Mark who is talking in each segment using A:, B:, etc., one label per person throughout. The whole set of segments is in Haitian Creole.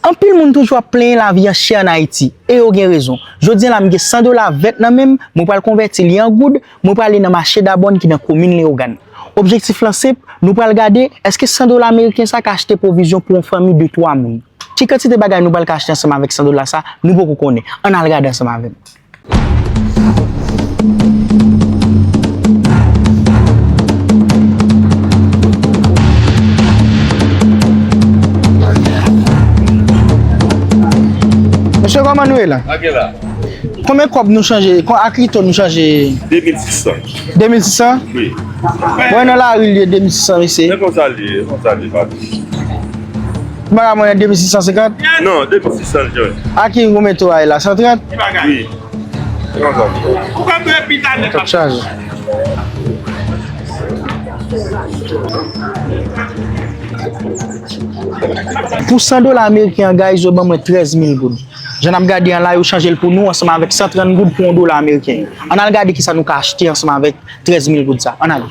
A: Anpil moun toujou ap plenyen lavi an chè an Ayiti, e yo gen rezon. Jodian la m gen 100 dola vèt nan men m, mwen pral konvèti li an goud, mwen prale nan mache Dabòn ki nan komin Leyogàn. Objektif lan senp, nou pral gade, èske 100 dola meriken sa ka achte pwovizyon pou yon fanmi de twa moun? Ki kantite bagay nou pral ka achte ansanm avèk 100 dola sa, nou poko konnen. Ann al gade ansanm avè m. Monsye koman nou e la? Ake la.
B: Kome kob
A: nou chanje? Kon ak li to nou chanje? 2600. 2600? Oui.
B: Mwen nan la
A: ri li e 2600 mese. Se konsa li e, se konsa li e. Bagay mwen 2650? Non, 2600 jòj.
B: A ki goumen to a
A: e la? 130? Ki bagay? Wi. Yon
B: zòm. Ou ka mwen pita
C: nèk la. Tòp chaj.
A: Pou 100 dola ameriken an guys yo ban mwen 13000 goud. Jan ap gade an la yo chanje l pou nou ansanm avèk 130 goud pou 1 dola ameriken. An al gade kisa nou ka achte ansanm avèk 13000 goud sa. An ale.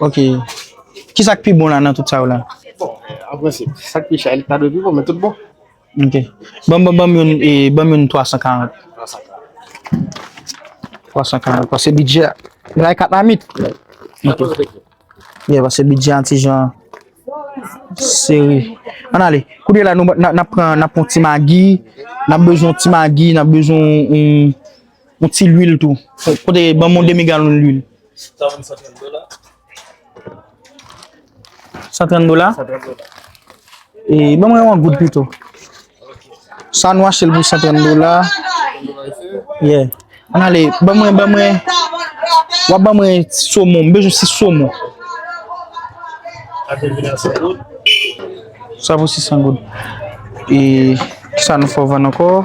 D: Ok.
A: Ki sa k pi bon la nan tout sa yo la? Bon, an
D: prensip, sa k pi chè a li ta dwe pi
A: bon, men tout bon. Ok. Ban m youn 340. 340. 340, pase bidjè a. Gen la 4 mamit? Wi. Nan pose kèk yo. Ye, pase bidjè a yon ti jan sere. An n ale. Kounye la, n ap pran yon ti magi. N ap bezwen yon ti magi, n ap bezwen yon. Yon ti lwil tou. Kote banm yon demi galon lwil. Sa vann 130 dola. 130 dola? 130 dola. E banm yon an goud pito. Sa nou achel pou 130 dola. Ye. An ale, banm yon banm yon. Wap banm yon somon. Mwen bejou si somon. Ate vina sa goud. Sa pou si san goud. E sa nou fò vann anko.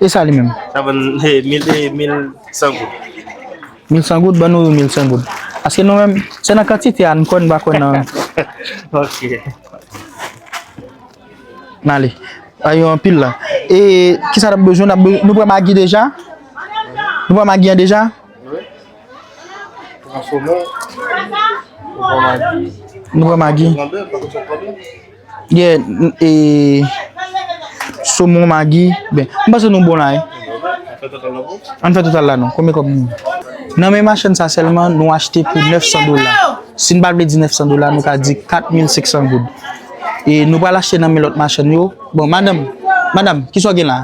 D: E sa li menm?
A: Sa vann e mil
D: e mil san goud. Mil san
A: goud? Ban nou yon mil san goud. Paske nou menm, se nan kantite a n kwè, n pa kwè nan.
D: Ok.
A: N ale. A yo anpil la. E ki sa n ap bezwen? N ap be, nou pran magi deja? Nou pran magi an deja? Wi.
D: Pran somon. Pran magi. Nou pran magi. Pran
A: bèf, pa gen sa pran
D: bèf. Gen
A: e somon magi ben. M panse nou bon la wi. Ann fè total la non. Konbyen kòb nou gen? Nan men machann sa sèlman nou achte pou 900 dola. Si n pa vle di 900 dola nou ka di 4500 goud. E nou pral achte nan men lòt machann yo. Bon madanm, madam kisa w gen la?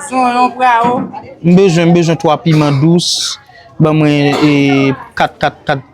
A: Son yon
C: prao. M bezwen, m bezwen
A: 3 piman dous. Ban mwen e 4, 4, 4.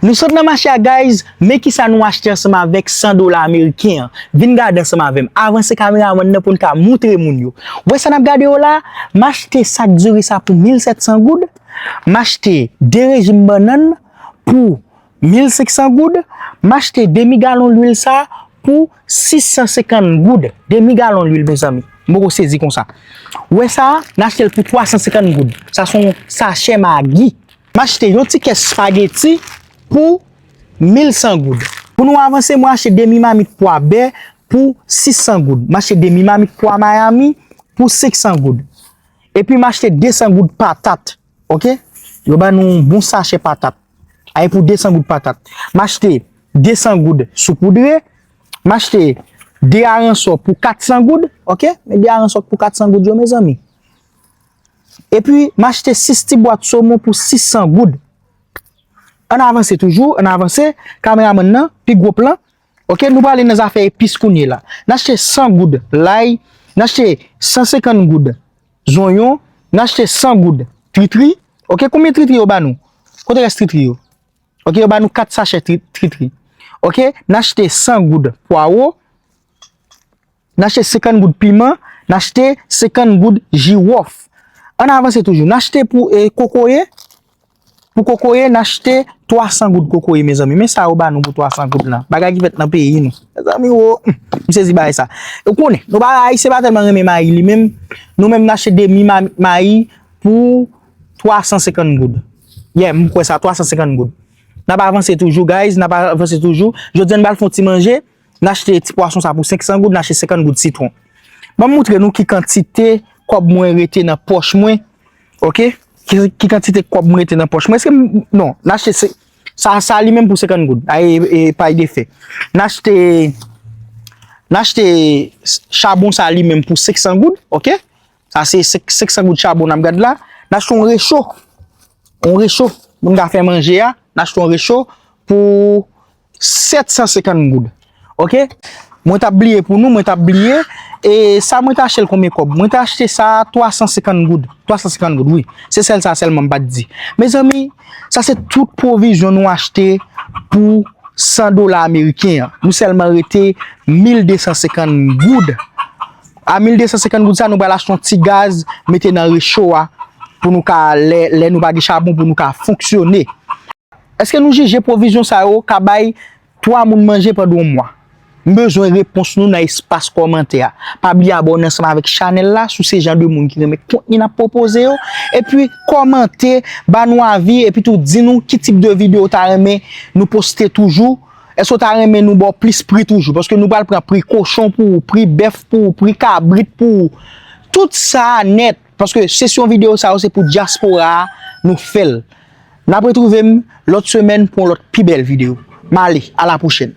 A: Nou sot nan mache a guys, men kisa nou achte ansanm avèk 100 dola ameriken an, vin gade ansanm avèm, avanse kameramann nan poun ka moutre moun yo, wè sa nap gade yo la, machte sak diri sa pou 1700 goud, machte 2 rejim bannann pou 1500 goud, machte demi galon lwil sa pou 650 goud, demi galon lwil mezanmi, m poko sezi konsa, wè sa nachtel pou 350 goud, sa son sachè magi. M achte yon ti kès spageti pou 1100 goud. Pou nou avanse, mwen achte demi mamit pwa bè pou 600 goud. M achte demi mamit pwa Miami pou 500 goud. Epi m achte 200 goud patat. Ok? Yo ban nou yon bon sachè patat. Ae pou 200 goud patat. M achte 200 goud soupoudre. M achte 2 aransò pou 400 goud. Ok? Men 2 aransò pou 400 goud yo mezanmi. Epi m achte 6 ti bwat somon pou 600 goud. Ann avanse toujou, ann avanse, kameramann nan, pi gwo plan. Ok, nou prale nan zafè epis kounye la. N achte 100 goud lay, n achte 150 goud zonyon, n achte 100 goud tritri. Ok, konbyen tritri yo ba nou? Kote rès tritri yo? Ok, yo ba nou 4 sachè tritri. Ok, n achte 100 goud pwawo. N achte 50 goud piman, n achte 50 goud jiwòf. An n avanse toujou. N achte pou kokoye, pou kokoye n achte 300 goud kokoye mezanmi. Men sa yo ba nou pou 300 goud lan. Bagay ki fèt nan peyi nou. Mezanmi wo, m sezi bagay sa. Ou konnen, nou pa ayisyen pa tèlman renmen mayi li menm. Nou menm n achte demi mayi pou 350 goud. Yeah, m kwè sa, 350 goud. N ap avanse toujou guys, n ap avanse toujou. Jodi an n pral fè yon ti manje. N achte ti pwason sa pou 500 goud, n achte 50 goud sitwon. Ban m moutre nou ki kantite kòb mwen rete nan pòch mwen, ok, ki kantite kòb mwen rete nan pòch mwen. Eske m, non, n achte se, sa, sa li menm pou 50 goud, a e, e pay de fè. N achte, n achte chabon sa li menm pou 500 goud, ok, sa se 500 goud chabon n ap gad la. N achte yon recho, yon recho pou n ta fè manje a, n achte yon recho pou 750 goud ok. Mwen tap bliye pou nou mwen tap bliye e sa mwen ta chel konbyen kob mwen ta achte sa 350 goud 350 goud wi se sel sa selman mpat di mezanmi sa se tout pwovizyon nou achte pou 100 dola ameriken an nou selman rete 1250 goud a 1250 goud sa nou pral achte yon ti gaz mete nan recho a pou nou ka lè nou pa gen chabon pou nou ka fonksyone. Eske nou jije pwovizyon sa yo ka bay 3 moun manje pandan yon mwa? M bezwen repons nou nan espas kòmantè a. Pa bliye abòne ansanm avèk chanèl la si w se jan de moun ki renmen kontni n ap pwopoze yo, epi kòmante, ba nou avi epitou di nou ki tip de videyo w ta renmen nou poste toujou. Èske w ta renmen nou ba w plis pri toujou? Paske nou pral pran pri kochon pou ou, pri bèf pou ou, pri kabrit pou ou. Tout sa a nèt! Paske sesyon video sa yo se pou diaspora a nou fel. Nap retrouvem lot semen pou yon lot pi bel video. Male, a la pwochen.